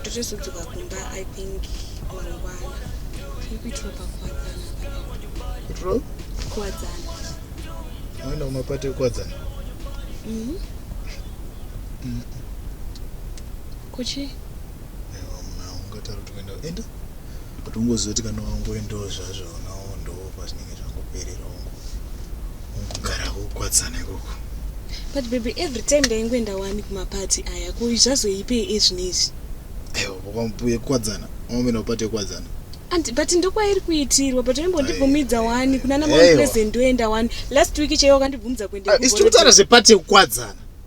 ndotozodzoka kumba i think mangwana tiri kuitiro pakuwadzana kuitiro kuwadzana maenda kumapati ekuwadzana mhm. mm. kuchi aiwa muna ungatari kuti kuenda enda But ungoziva kuti kana wangoendawo zvazvo unawo ndoo pazvinenge zvangoperera ungo ungogara kukwadzana ikoko. But baby every time ndaingoenda wani kumaparty aya ko zvazoipei ezvino izvi? Aiwa bokwambuye kukwadzana wamboenda kupati yekukwadzana. And but ndokwairi kuitirwa but waimbondibvumidza wani kunana mount pleasant ndoenda wani last week chaiwo wakandibvumidza kuenda. Isi tikutaura zvepati yekukwadzana.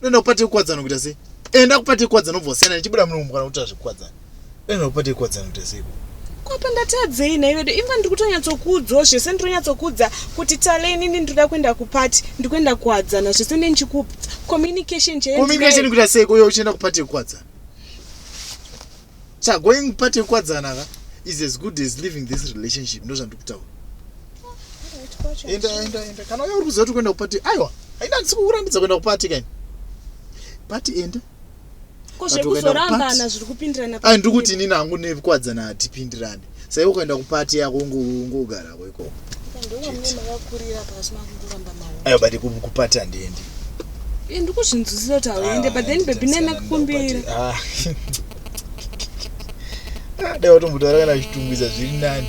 unoenda kupate kukwadzana kuita sei enda kupate kukwadzana obva wasiyana ndichibuda muno mukana kutora zvekukwadzana unoenda kupate kukwadzana kuita sei kwapa ndatadzei nhai vedu imva ndiri kutonyatsokuudzao zvese ndiri kunyatsokuudza kuti tale inini ndiri kuda kuenda kupati ndiri kuenda kuwadzana zvese ndee ndichikuudza communication checommunication kuita sei kuyo uchienda kupati yekuwadzana Chagoing part yekukwadzana ka is as good as living this relationship ndozvandikutaura enda enda enda kana uya uri kuziva kuti kuenda kupati aiwa haina handisi kukurambidza kuenda kupati kaini pati enda ko zvekuzorambana zviri kupindirana ai ndiri kuti inini hangu nekukwadzana hatipindirane Sai ukaenda kupati yako ungogarako ikoko. Ayo bati kupati handiendi. Eh, ndikuzvinzwisisa kuti hauende ah, but then baby nai makukumbira. Ah. Ah, dai watombotaura kana zvitungwiza zviri nani.